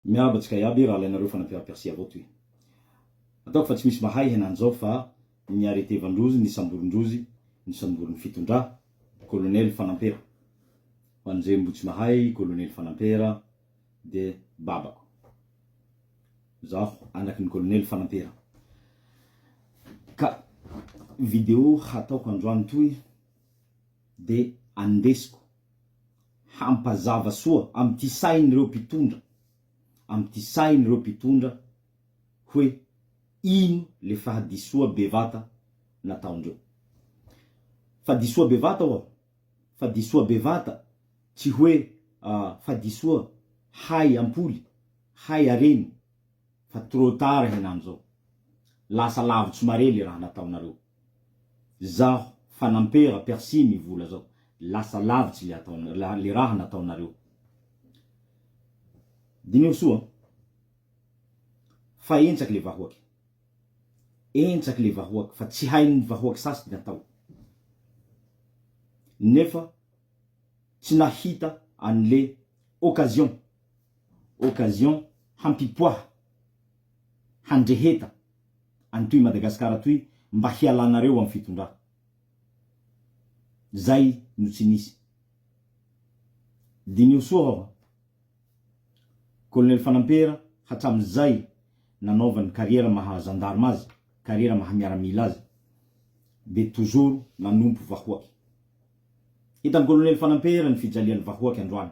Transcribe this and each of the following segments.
Miarahaba antsika iaby, raha alainareo fa nampihariko arsy avao toy. Ataoko fa tsy misy mahay henan'izao fa ny arrêté vandrozy ny samborin-drozy ny samborin'ny fitondra, kolonely Fanampera. Ho an'izay mbo tsy mahay i kolonely Fanampera de babako. Zaho anakin'ny kolonely Fanampera. Ka video hataoko androany toy de andesiko. hampazava soa amin'ity sain'ireo mpitondra, amin'ity sain'ireo mpitondra hoe ino le fahadisoa bevata nataondreo. Fahadisoa bevata oa? Fahadisoa bevata tsy hoe fahadisoa hay ampoly, hay areny. fa trop tard henany zao. Lasa lavitry mare le raha nataonareo. Zaho fanampera persil ny vola zao. Lasa lavitry le atao le raha nataonareo. Diniho soa an. Fa entsaky le vahoaky. Entsaky le vahoaky fa tsy hain'ny vahoaky sasy ny atao. Nefa tsy nahita an'le occasion. occasion hampipoaha handreheta any toy Madagascar toy mba hialanareo am fitondra zay no tsy nisy diniho soa aho a colonel Fanampera hatram zay nanaovany carrière maha gendarme azy carrière maha miaramila azy de toujours nanompo vahoaky hitan colonel Fanampera ny fijaliany vahoaky androany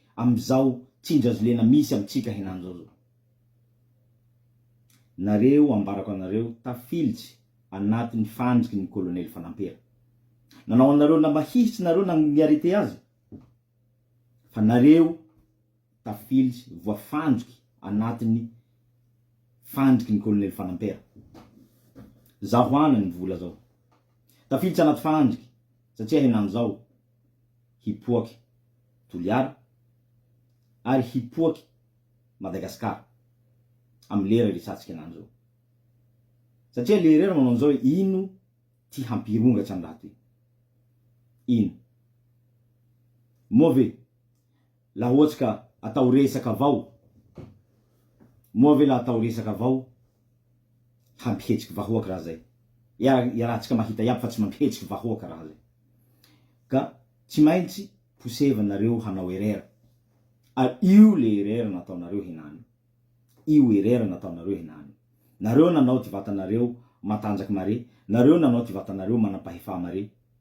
Amin'izao tsinjazolena misy amintsika henany zao zao. Nareo ambarako anareo tafilitsy anatiny fandriky ny kolonely fanampera. Nanao anareo lamba hihitsy nareo na ny arrete aza. Fa nareo tafilitsy voafandriky anatiny fandriky ny kolonely fanampera. Zaho ana ny vola zao. Tafilitsy anaty fandriky satria henany zao. hipoaky Toliara ary hipoaky Madagascar am lera resatsika lany zao. Satria le rera manao anzao hoe ino ty hampirongatra ny raha toy. Ino. Moa ve. Lah ohatsy ka atao resaka avao moa ve lah atao resaka avao hampihetsiky vahoaka raha zay iara iarahantsika mahita iaby fa tsy mampihetsiky vahoaka raha zay ka tsy maintsy posevin nareo hanao erreur a io le erreur natao nareo henany io erreur natao nareo henany nareo nanao ty vatanareo matanjak mare nareo nanao ty vatanareo manampahefa mare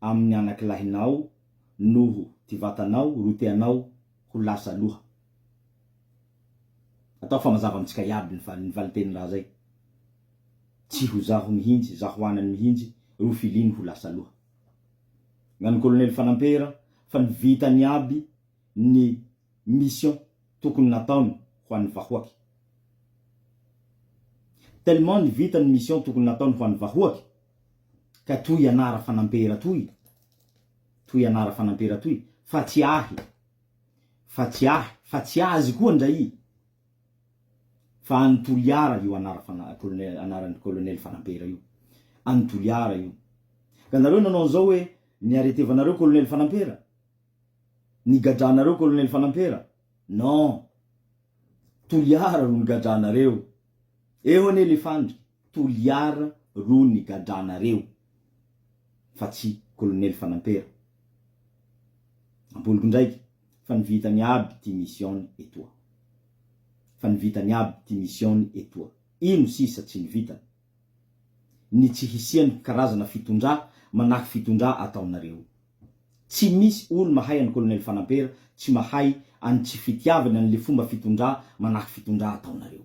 amin' ny anaky lahinao noho ty vatanao ro teanao ho lasa loha. Ataoko fa mazava amintsika iaby ny fa ny valinteny raha zay. Tsy ho zaho mihintsy, zaho anany mihintsy ro filiny ho lasa loha. Ngano Kolonely Fanampera fa ny vitany iaby ny mission tokony nataony ho any vahoaky. Tellement ny vitany mission tokony nataony ho any vahoaky. ka toy ianara fanampera toy, toy ianara fanampera toy, fa tsy ahy, fa tsy ahy, fa tsy azy koa ndray, fa an'i Toliara io anara fana, colonel, anaran'i colonel fanampera io, an'i Toliara io, ka nareo nanao an'izao hoe, ny aretevanareo colonel fanampera? ny gadranareo colonel fanampera? non, Toliara ro nigadranareo, eo anie le fandrika. Toliara ro nigadranareo fa tsy Colonel Fanampera. Ampoliko ndraiky fa ny vitany aby ty mission-ny etoa. Fa ny vitany aby ty mission-ny etoa. Ino sisa tsy ny vitany? Ny tsy hisian'ny karazana fitondrà manaky fitondrà ataonareo. Tsy misy olo mahay an'i Colonel Fanampera tsy mahay an'ny tsy fitiavany an'le fomba fitondrà manaky fitondrà ataonareo.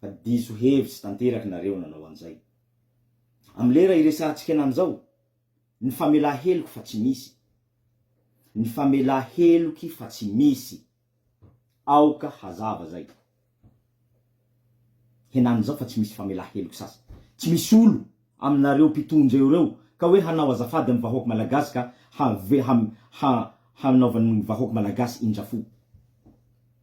Fa diso hevitsy tanteraka nareo nanao an'izay. Amin'ny lera iresahantsika an'any izao, ny famelà heloky fa tsy misy. Ny famelà heloky fa tsy misy. Aoka hazava izay. Henany izao fa tsy misy famelà heloky sasy. Tsy misy olo aminareo mpitondra eo ireo ka hoe hanao azafady amin'ny vahoaka Malagasy ka hanaovan'ny vahoaka Malagasy indrafo.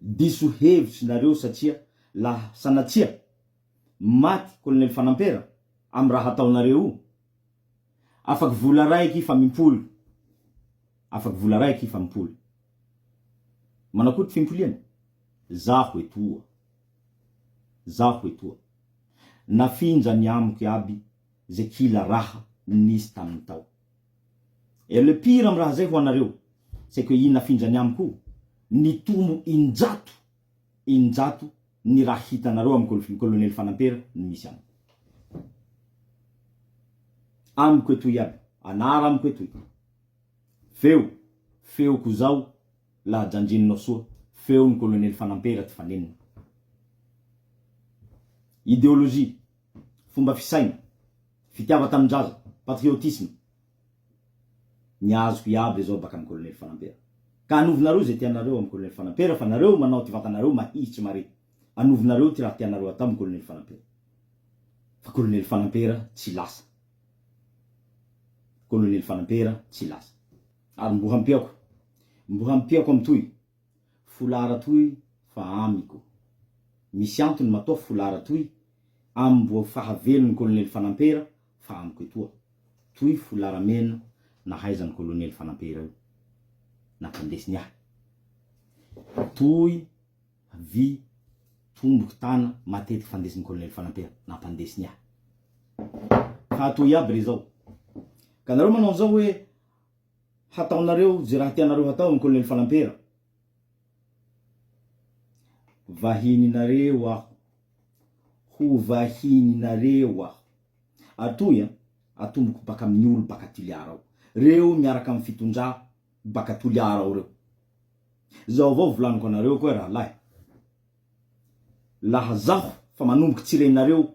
Diso hevitry nareo satria la sanatsia maty colonel fanampera am raha ataonareo io. Afaky vola raiky fa mimpoly. Afaky vola raiky fa mimpoly. Manakory fimpoliana? Zaho etoa. Zaho etoa. Nafinja ny amiko iaby ze kila raha nisy taminy tao. Et le pire am raha zay ho anareo, c'est que i Nafindrany amiko nitombo injato injato ny raha hitanareo am Colonel Fanampera ny misy amiko. Amiko etoy iaby, anara amiko etoy. Feo, feoko zao laha janjinonao soa, feon Colonel Fanampera Tifanenina. Ideologie. fomba fisaina, fitiavan-tanindraza, patriotisme, ny azoko iaby re zao baka am Colonel Fanampera. Ka anovinareo izay tianareo am Colonel Fanampera fa nareo manao ty vatanareo mahihitry mare. Anovinareo ty raha tianareo atao am Colonel Fanampera. Fa Colonel Fanampera tsy lasa. Colonel Fanampera tsy lasa. Ary mbo hampiako. Mbo hampiako am toy. Folara toy fa amiko. Misy antony matoa folara toy amboa fahavelony kolonely fanampera fa amiko etoa. Toy folara mena nahaizany kolonely fanampera io. Nampandesiny ahy. Toy vy tomboko tana matetiky fandesiny kolonely fanampera. Nampandesiny ahy. Ka toy iaby re zao. Ka nareo manao anzao hoe Hataonareo ze raha tianareo hatao amin'ny Colonel Falampera. Vahininareo aho. Ho vahininareo aho. Atoy an, atomboko baka amin'ny olo baka Toliara ao. Reo miaraka amin'ny fitondrà baka Toliara ao reo. Zao avao volaniko anareo koa rahalahy. Laha zaho fa manomboky tsy renareo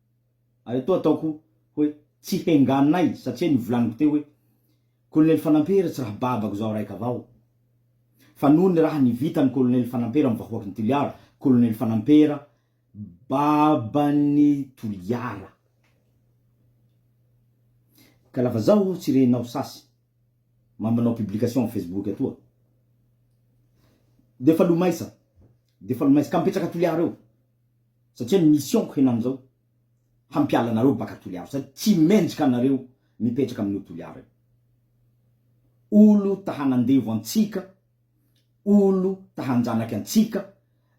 Ary toa ataoko hoe tsy henganay satria ny volaniko teo hoe Kolonely Fanampera tsy raha babako zaho raika avao. Fa noho ny raha nivitan'i Kolonely Fanampera amin'ny vahoakin'i Toliara, Kolonely Fanampera baban'i Toliara. Ka lava zaho tsy renao sasy ma manao publication amin'ny Facebook atoa. Defa lomaisa, defa lomaisa ka mipetraka Toliara eo. satria ny mission-ko henan'izao hampiala anareo baka Toliara sady tsy mendrika anareo mipetraka amin'io Toliara io. Olo ta hanandevo antsika, olo ta hanjanaka antsika,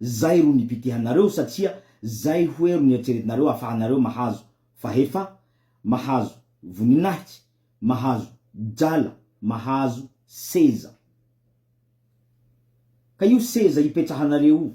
zay ro nipitihanareo satria zay hoe ro nieritreretinareo afahanareo mahazo fahefa, mahazo voninahitsy, mahazo drala, mahazo seza. Ka io seza ipetrahanareo io,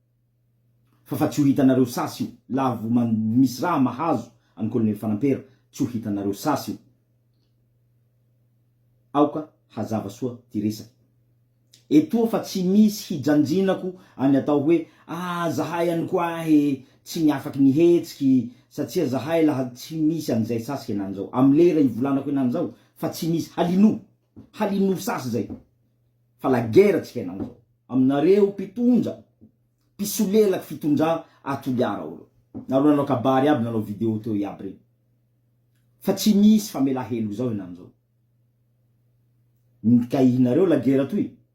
fa fa tsy ho hitanareo sasy io la vo man misy raha mahazo an'i Colonel Fanampera tsy ho hitanareo sasy io. Aoka hazava soa ty resaka etoa fa tsy misy hijanjinako any atao hoe ah zahay any koa he tsy ny afaky ny hetsiky satsia zahay laha tsy misy an'izay sasy henany zao am lera ivolanako henany zao fa tsy misy halinoa Halin'ny ursas zay fa la guerre tsy hainao zao aminareo mpitondra mpisolelak fitondra a toliara o reo nareo nanao kabary aby nanao video teo iaby reny fa tsy misy famela heloka zao henany zao nikahihinareo la guerre toy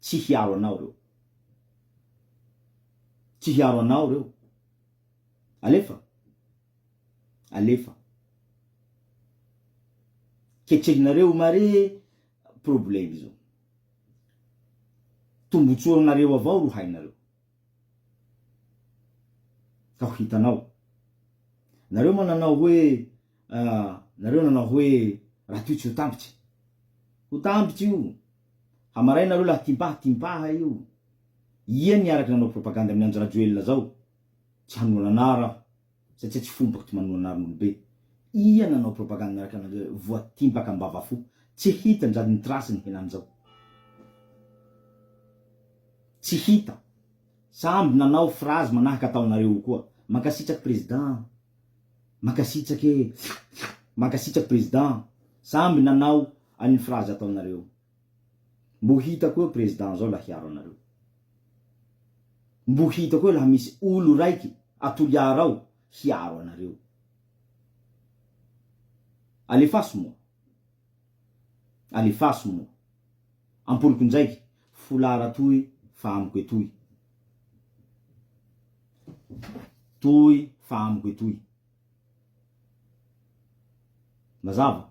Tsy hiaro anao reo. Tsy hiaro anao reo. Alefa. Alefa. Ketrehinareo o mare probleme zao. Tombotsoa anareo avao ro hainareo. Ka ho hitanao. Nareo moa nanao hoe nareo nanao hoe Ratojo ho tambitry. Ho tambitry io. Hamaray nareo lahy timpaha timpaha io ia ny araka nanao propagande amin andry rajoelina zao tsy hanohana anaro aho satsia tsy fombako ty manohana anaro nolobe ia nanao propagande miaraka anareo voa timpaka ambava fo tsy hita nzady ny trace ny henany zao tsy hita samby nanao phrase manahaka ataonareo io koa mankasitraky president Mankasitraka e! Mankasitraka Président samby nanao an'iny phrase ataonareo. Mbo hita koa Président zao la hiaro anareo. Mbo hita koa la misy olo raiky a Toliara ao hiaro anareo. Alefaso moa. Alefaso moa. Ampoloko ndraiky. Foulard toy fa amiko etoy. Toy fa amiko etoy. Mazava?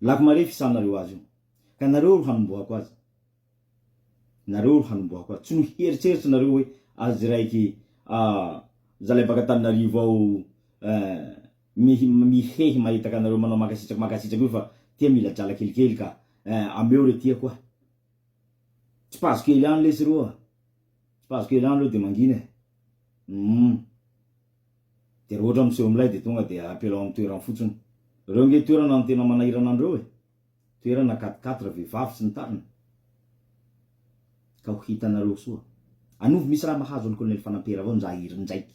Lako mare fisahanareo azy io. Ka nareo ro hanombohako azy. Nareo ro hanombohako azy. Tsy noheritreritra nareo hoe azy raiky ah zalahy baka Antananarivo ao eh Mihehy mahitaka anareo manao mankasitraka mankasitraka io fa tia mila drala kelikely ka eh ameo re tiako ah. Tsipazo kely any lesy ro ah. Tsipazo kely any lo de mangina eh. Humm. De ra ohatra miseho milay de tonga de apelao am toerany fotsiny. Reo nge toerana no tena manahirana anreo eh. Toerana quatre quatre vehivavy sy ny tariny. Ka ho hitanareo soa. Anovo misy raha mahazo an'i Colonel Fanampera avao njair ndraiky.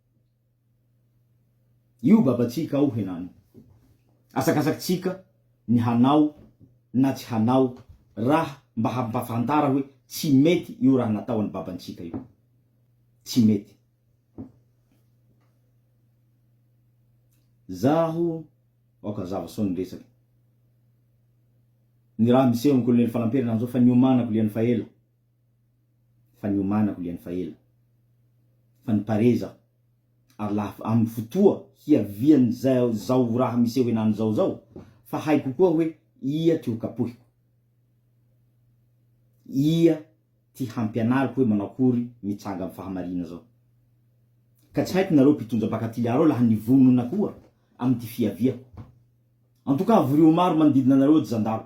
Io babantsika ao henany. Asakasakitsika ny hanao na tsy hanao raha mba hampafantara hoe tsy mety io raha natao an'i babantsika io. Tsy mety. Zaho aoka hazava soa ny resaka. Ny raha miseho amin'i Kolonely Falampiry henany zao fa niomanako liany fa ela. fa niomanako liany fa ela fa niparez aho ary laha amin'ny fotoa hiavian'izao zao raha miseho henany zao zao fa haiko koa hoe ia ty ho kapohiko, ia ty hampianariko hoe manao akory mitsanga amin'ny fahamarina zao. Ka tsy haiko nareo mpitondra baka Toliara ao laha nivonona koa amin'ity fiaviako. En tout cas avorio maro manodidina anareo ry zandaro.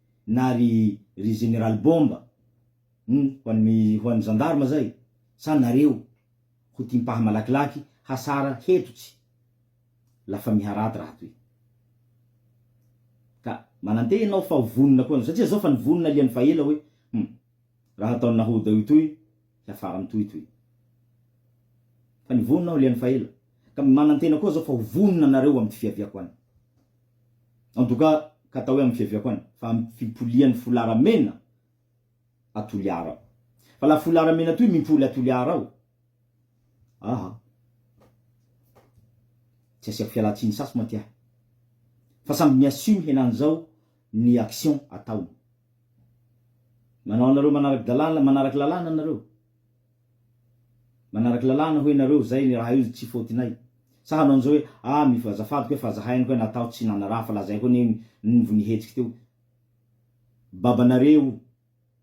na ry ry Général Bomba hum ho an'ny ho an'ny gendarme zay sa nareo ho tia mpaha malakilaky hasara hetotsy la famille raty raha toy ka mananteha ianao fa ho vonona koa ianao satria zao fa nivonona liany fa ela hoe hum raha ataon'i Nahoda io toy hiafara amin'ny tohitohy. Fa ny vonona aho ilay an'i Faela, ka manantena koa zao fa ho vonona nareo amin'ny fiaviako any. En tout cas, ka atao hoe amin'ny fiaviako any, fa amin'ny fipolian'ny folara mena à Toliara aho. Fa la folara mena toy mimpoly à Toliara aho, aha, tsy asiako fialantsiny sasy mantsy ahy. Fa samby mi-assume henan'izao ny action ataony. Manao anareo manarak dalàna manarak lalàna anareo? Manarak lalàna hoe nareo zay ny raha io tsy faute-nay? Sa hanao an'izao hoe ah mif azafady koe fa zahay any koe nataho tsy nanaraha fa lazaiko anie ny ny vao nihetsiky teo. Babanareo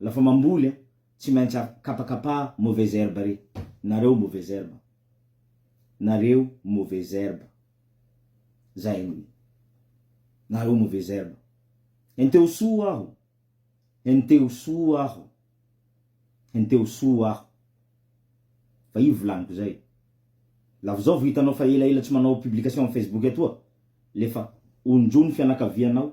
Lafa mamboly a tsy maintsy a kapakapa mauvaise herbe re nareo mauvaise herbe nareo mauvaise herbe zay ny nareo mauvaise herbe henteho soa aho henteho soa aho henteho soa aho fa io volaniko zay lafa zao vo hitanao fa elaela tsy manao publication am facebook atoa lefa onjo ny fianakavianao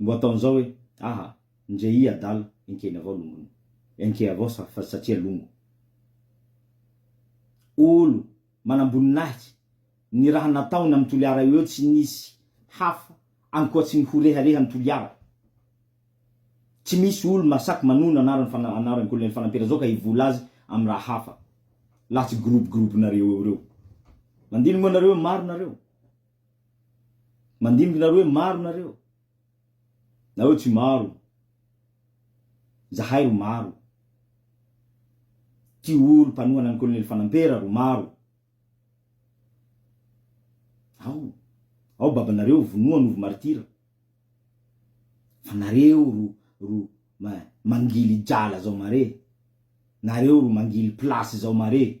Mbo ataony zao hoe aha ndre i adala enkeny avao longony enke avao sa fa satria longo olo manamboninahitry ny raha nataony am toliara eo tsy nisy hafa ankoatry ny ho rehareha ny toliara tsy misy olo masak manono anaran fana anaran kolonely fanampera zao ka hivola azy am raha hafa laha tsy groupe groupe nareo eo reo mandini moa nareo maro nareo Mandimby nareo hoe maro nareo na hoe tsy maro zahay ro maro ty olo mpanohana ny kolonely fanampera ro maro ao ao babanareo vonoa anovo martira fa nareo ro ro ma mangily jala zao mare nareo ro mangily place zao mare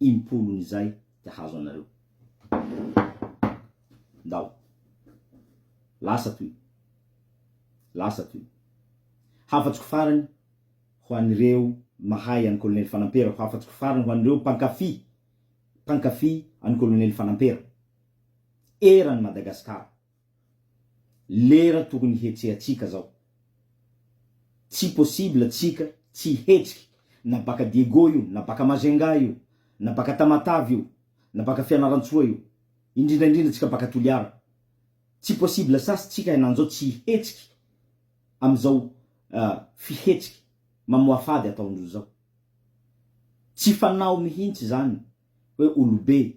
impolony izay dia hahazo anareo. Ndao. Lasa toy. Lasa toy. Hafatsoko farany ho an'ireo mahay an'i Kolonely Fanampera, hafatsoko farany ho an'ireo mpankafy, mpankafy an'i Kolonely Fanampera. Eran'i Madagasikara. lera tokony hihetsehantsika zao tsy possible tsika tsy hihetsiky na baka Diego io na baka Majunga io na baka Tamatave io na baka Fianarantsoa io indrindra indrindra tsika baka Toliara tsy possible sasy tsika henanzao tsy hihetsiky amzao fihetsiky mamoafady ataondrozao tsy fanao mihintsy zany hoe olobe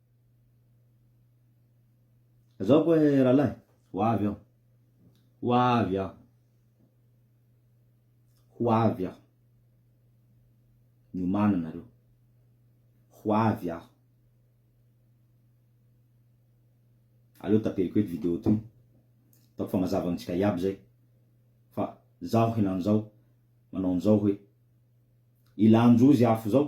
Zao koa eh rahalahy, ho avy aho, ho avy aho, ho avy aho, miomana nareo, ho avy aho. Aleo taperiko eto video toy, ataoko fa mazava amintsika iaby zay, fa zaho henany zao manao anzao hoe, ilanjo ozy afo zao,